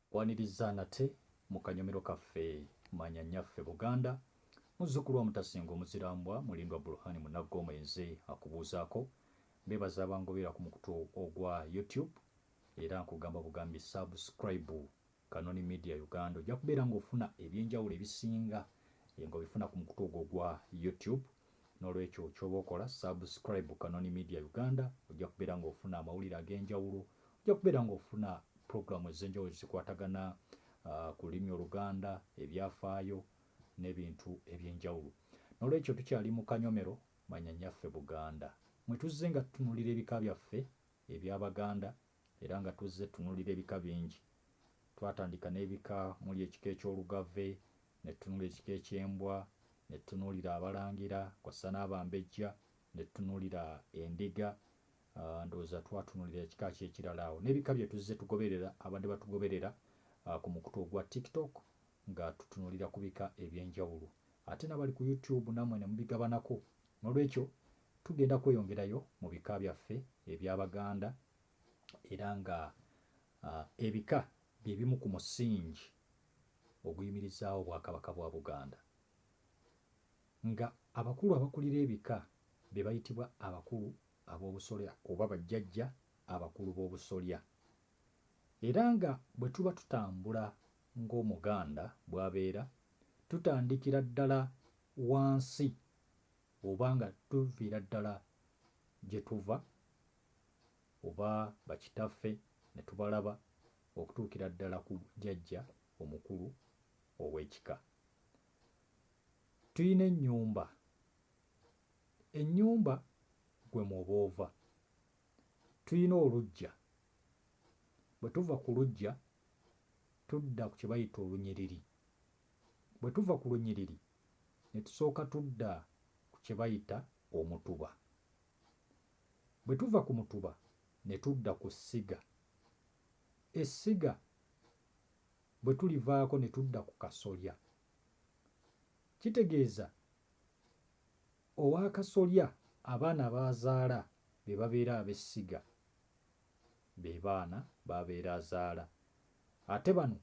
Nkwaniriza nate mu kanyomero kaffe Manya Nyaffe Buganda, muzzukulu wa Mutasinga Omuzirambwa, Mulindwa Burhan Munaggo Mwenzi akubuuzaako. Mbeebaza abangoberera ku mukutu ogwa YouTube era nkugamba bugambi subscribe Kanoni Media Uganda ojja kubeera ng'ofuna eby'enjawulo ebisinga ng'obifuna ku mukutu ogwo ogwa YouTube. Nolwekyo kyoba okola subscribe Kanoni media Uganda ojja kubeera nga ofuna amawulire agenjawulo, ojja kubeera nga ofuna program ezenjawulo ezikwatagana ku lulimi oluganda, ebyafaayo nebintu ebyenjawulo. Nolwekyo tukyali mu kanyomero manya nyaffe Buganda mwetuzze nga tutunulira ebika byaffe ebyabaganda Era nga tuzze tutunulira ebika bingi, twatandika n'ebika muli ekika eky'Olugave, ne tutunula ekika eky'Embwa, ne tutunuulira Abalangira kw'assa n'Abambejja, ne tutunuulira Endiga, ndowooza twatunulira ekika ki ekirala awo n'ebika bye tuzze tugoberera abadde batugoberera ku mukutu ogwa TikTok nga tutunulira ku bika eby'enjawulo ate nabali ku YouTube namwe ne mubigabanako N'olwekyo tugenda kweyongerayo mu bika byaffe ebya Baganda era nga ebika bye bimu ku musingi oguyimirizaawo Obwakabaka bwa Buganda. Nga abakulu abakulira ebika be bayitibwa abakulu ab'obusolya oba bajjajja abakulu b'obusolya. Era nga bwe tuba tutambula ng'Omuganda bw'abeera, tutandikira ddala wansi oba nga tuviira ddala gye tuva oba bakitaffe ne tubalaba okutuukira ddala ku jjajja omukulu ow'ekika. Tulina ennyumba. Ennyumba gwe mw'oba ova. Tulina oluggya. Bwe tuva ku luggya tudda ku kye bayita olunyiriri. Bwe tuva ku lunyiriri ne tusooka tudda ku kye bayita omutuba. Bwe tuva ku mutuba ne tudda ku ssiga. Essiga bwe tulivaako ne tudda ku kasolya. Kitegeeza ow'akasolya abaana b'azaala be babeera ab'essiga, be baana b'abeera azaala ate bano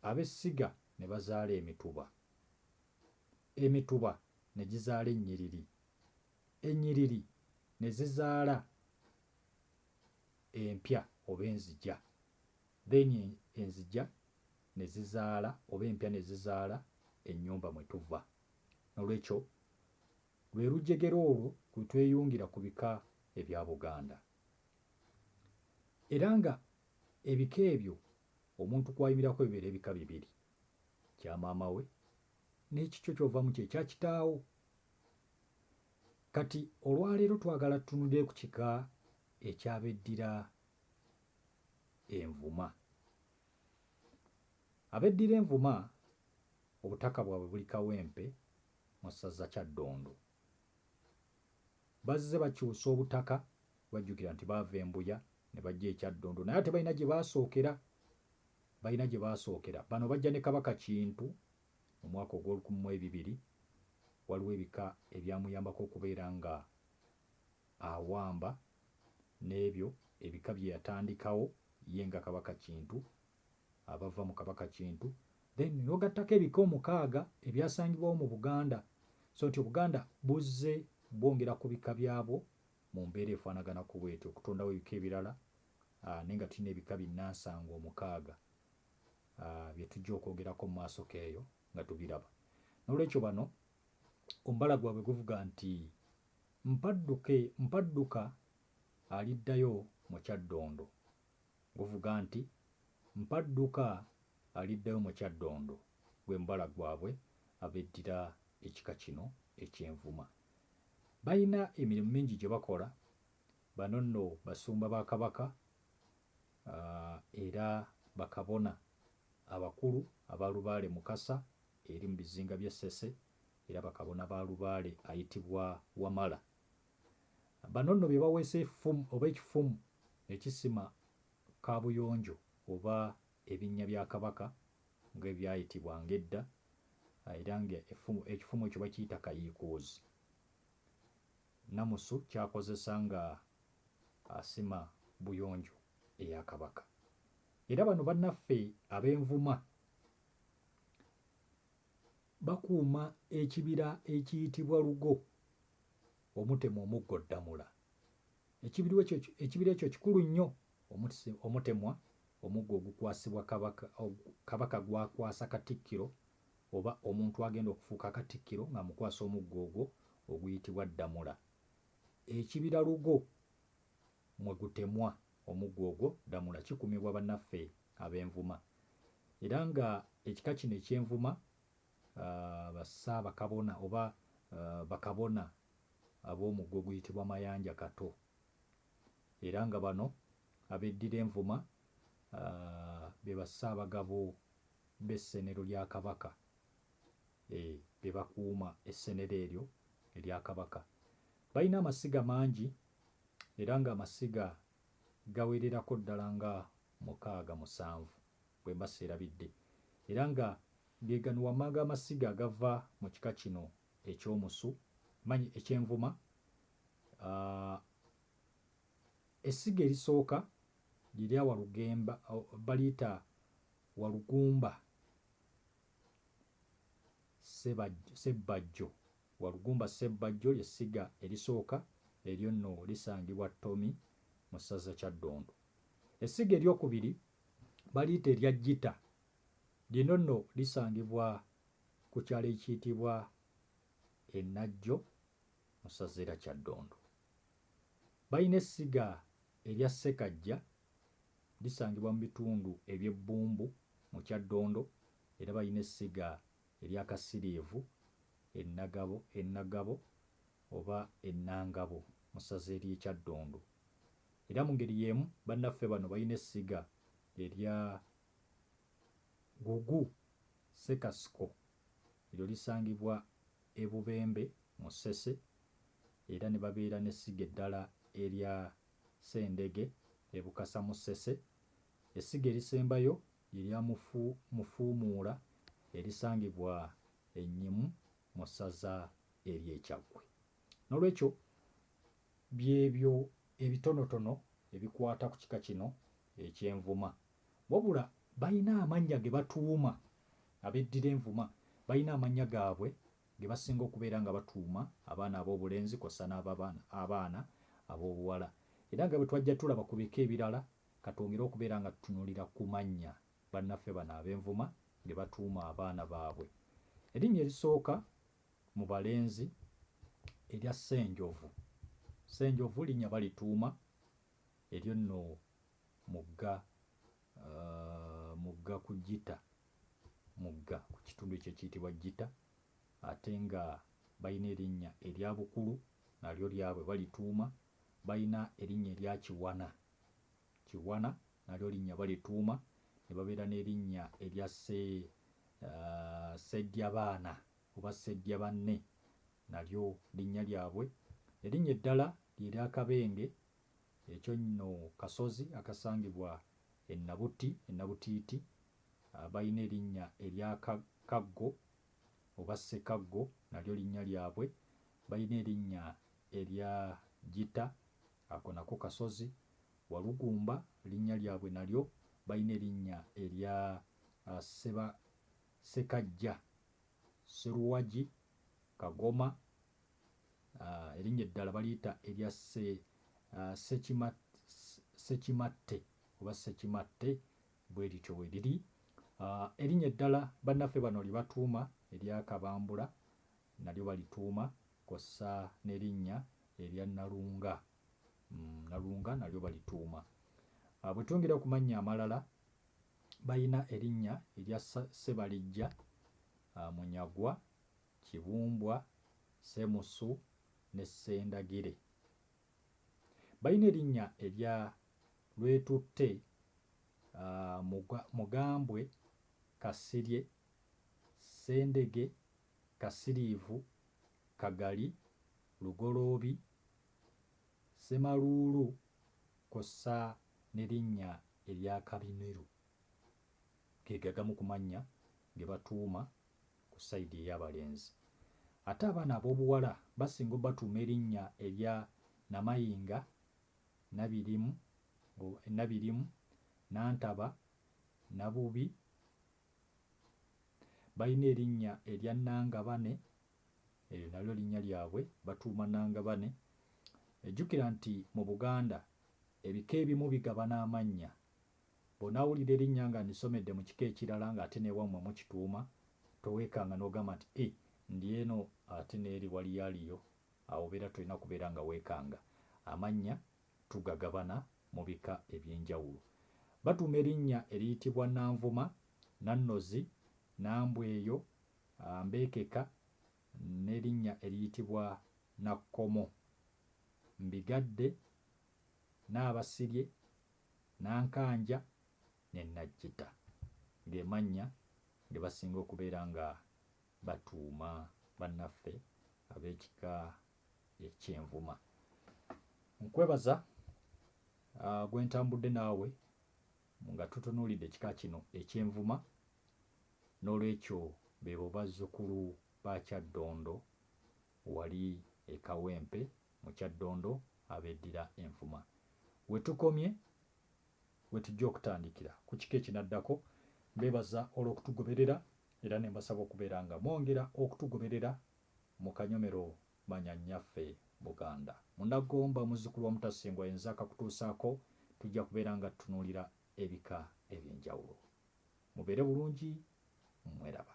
ab'essiga ne bazaala emituba. Emituba ne gizaala ennyiriri, ennyiriri ne zizaala empya oba enzigya, then enzigya ne zizaala oba empya ne zizaala ennyumba mwe tuva. Nolwekyo lwe lujegere olwo lwe tweyungira ku bika ebya Buganda. Era nga ebika ebyo omuntu kw'ayimirako bibeera ebika bibiri. kya maama we n'ekikyo ky'ovamu kye kya kitaawo. Kati olwaleero twagala tutunulire ku kika eky'abeddira Envuma. Abeddira Envuma obutaka bwabwe buli Kawempe mu ssaza Kyaddondo. Bazze bakyusa obutaka, bajjukira nti baava e Mbuya ne bajja e Kyaddondo naye ate balina gye baasookera. Balina gye baasookera. Bano bajja ne Kabaka Kintu mu mwaka ogw'olukumi mu ebibiri. Waliwo ebika ebyamuyambako okubeera nga awamba n'ebyo ebika bye yatandikawo ye nga Kabaka Kintu, abava mu Kabaka Kintu, then n'ogattako ebika omukaaga ebyasangibwawo mu Buganda. So nti Obuganda buzze bwongera ku bika byabwo Mu mbeera efaanaganako bw'etyo, okutondawo ebika ebirala, aa, naye nga tulina ebika binnansangwa omukaaga, aa, bye tujja okwogerako mu maasoke eyo, nga tubiraba. N'olwekyo bano, omubala gwabwe guvuga nti, Mpadduke, mpadduka, aliddayo mu kyaddondo. Guvuga nti, Mpadduka, aliddayo mu kyaddondo. Gwe mubala gwabwe abeddira ekika kino eky'Envuma. Balina emirimu mingi gye bakola. Bano nno basumba ba Kabaka era bakabona abakulu aba Lubaale Mukasa eri mu bizinga by'e Ssese era bakabona ba Lubaale ayitibwa Wamala. Bano nno be baweesa effumu oba ekifumu ekisima kaabuyonjo oba ebinnya bya Kabaka nga ebyayitibwanga edda era nga ekifumu ekyo bakiyita Kayiikuuzi. Nnamusu ky'akozesa nga asima buyonjo eya Kabaka. Era bano bannaffe ab'Envuma bakuuma ekibira ekiyitibwa Lugo omutema omuggo Ddamula. Ekibira ekyo kikulu nnyo omutemwa omuggo ogukwasibwa Kabaka gw'akwasa Katikkiro oba omuntu agenda okufuuka Katikkiro ng'amukwasa omuggo ogwo oguyitibwa Ddamula. Ekibira Lugo mwe gutemwa omuggo ogwo Ddamula kikuumibwa bannaffe Abenvuma era ng'ekika kino eky'Envuma ba Ssaabakabona oba bakabona ab'omugga oguyitibwa Mayanja Kato era nga bano abeddira Envuma be ba Ssaabagabo b'essenero lya Kabaka be bakuuma essenero eryo erya Kabaka. Balina amasiga mangi era ng'amasiga gawererako ddala nga mukaaga musanvu bwemba seerabidde era nga gegano wammanga amasiga agava mu kika kino eky'omusu manyi eky'envuma aah Essiga erisooka lye lya Walugemba baliyita Walugumba Sebajjo Sebbajjo Walugumba Ssebbajjo lye ssiga erisooka eryo nno lisangibwa Ttomi mu ssaza Kyaddondo. Essiga ery'okubiri baliyita erya Jjita. Lino nno lisangibwa ku kyalo ekiyitibwa e Najjo mu ssaza era Kyaddondo. Balina essiga erya Ssekajja, lisangibwa mu bitundu eby'e Bbumbu mu Kyaddondo era balina essiga erya Kasiriivu e Nagabo e Nagabo oba e Nangabo mu ssaza ery'e Kyaddondo. Era mu ngeri y'emu bannaffe bano balina essiga erya Gugu Ssekasiko eryo lisangibwa e Bubembe mu Ssese era ne babeera n'essiga eddala erya Ssendege e Bukasa mu Ssese. Essiga erisembayo lye lya Mufuumuula erisangibwa e Nyimu mu ssaza ery'e Kyaggwe. N'olwekyo, by'ebyo ebitonotono ebikwata ku kika kino eky'envuma. Wabula balina amannya ge batuuma, abeddira envuma balina amannya gaabwe ge basinga okubeera nga batuuma abaana ab'obulenzi kw'ossa n'abaana ab'obuwala. Era nga bwe twajja tulaba ku bika ebirala, ka twongere okubeera nga tutunuulira ku mannya bannaffe bano ab'envuma ge batuuma abaana baabwe. Erinnya erisooka mu balenzi erya Ssenjovu. Ssenjovu linnya balituuma eryo nno mugga mugga ku Gita mugga ku kitundu ekyo ekiyitibwa Gita ate nga balina erinnya erya Bukulu nalyo lyabwe balituuma, balina erinnya erya Kiwana. Kiwana nalyo linnya balituuma ne babeera n'erinnya erya Ssi, Sseddyabaana oba Sseddyabanne nalyo linnya lyabwe. Erinnya eddala lye lya Kabenge, ekyo nno kasozi akasangibwa e Nabuti e Nabutiiti. Balina erinnya erya Ka, Kaggo oba Ssekaggo nalyo linnya lyabwe. Balina erinnya erya Gita Ako nako kasozi. Walugumba linnya lyabwe nalyo balina erinnya erya Sseba Ssekajja, Sseruwagi, Kagoma, erinnya eddala baliyita erya Ssekimatte oba Ssekimatte bwe lityo bwe liri. Erinnya eddala bannaffe bano lye batuuma erya Kabambula nalyo balituuma kw'ossa n'erinnya erya Nalunga, Nalunga nalyo balituuma. Bwe twongera ku mannya amalala, balina erinnya erya Ssebalijja, Munyagwa, Kibumbwa, Ssemusu ne Ssendagire. Balina erinnya erya Lwetutte, Mugambwe, Kasirye, Ssendege Kasiriivu, Kagali, Lugoloobi, Ssemaluulu kw'ossa ne linnya erya Kabimiru ge gagamu ku mannya ge batuuma ku sayidi ey'abalenzi. Ate abaana ab'obuwala basinga obatuuma erinnya erya Namayinga, Nabirimu, Nantaba, Nabubi, Balina erinnya erya Nnangabane, eryo nalyo linnya lyabwe, batuuma Nnangabane. Jjukira nti mu Buganda ebika ebimu bigabana amannya. Bw'onaawulira erinnya nga ndisomedde mu kika ekirala ng'ate n'ewammwe mukituuma, towekanga n'ogamba nti, Ih, ndi eno ate n'eri waliyo aliyo. Awo obeera tolina kubeera nga weekanga. Amannya tugagabana mu bika eby'enjawulo. Batuuma erinnya eriyitibwa Nanvuma, Nannozi, Nambweyo, Mbekeka n'erinnya eriyitibwa Nakkomo. Mbigadde, Naabasirye, Nankanja ne Najjita ge mannya ge basinga okubeera nga batuuma bannaffe ab'ekika ekyenvuma nkwebaza uh, gwentambudde naawe nga tutunuulidde ekika kino ekyenvuma n'olwekyo bebo bazzukulu ba kyaddondo wali ekawempe mu kyaddondo abeddira envuma wetukomye wetujja okutandikira ku kika ekinaddako mbebaza olw'okutugoberera era ne mbasaba okubeera nga mwongera okutugoberera Mu kanyomero manya nnyaffe Buganda. Munnagomba muzzukulu wa Mutasingwa yenze akakutuusaako tujja kubeera nga tutunuulira ebika eby'enjawulo. Mubeere bulungi, mweraba.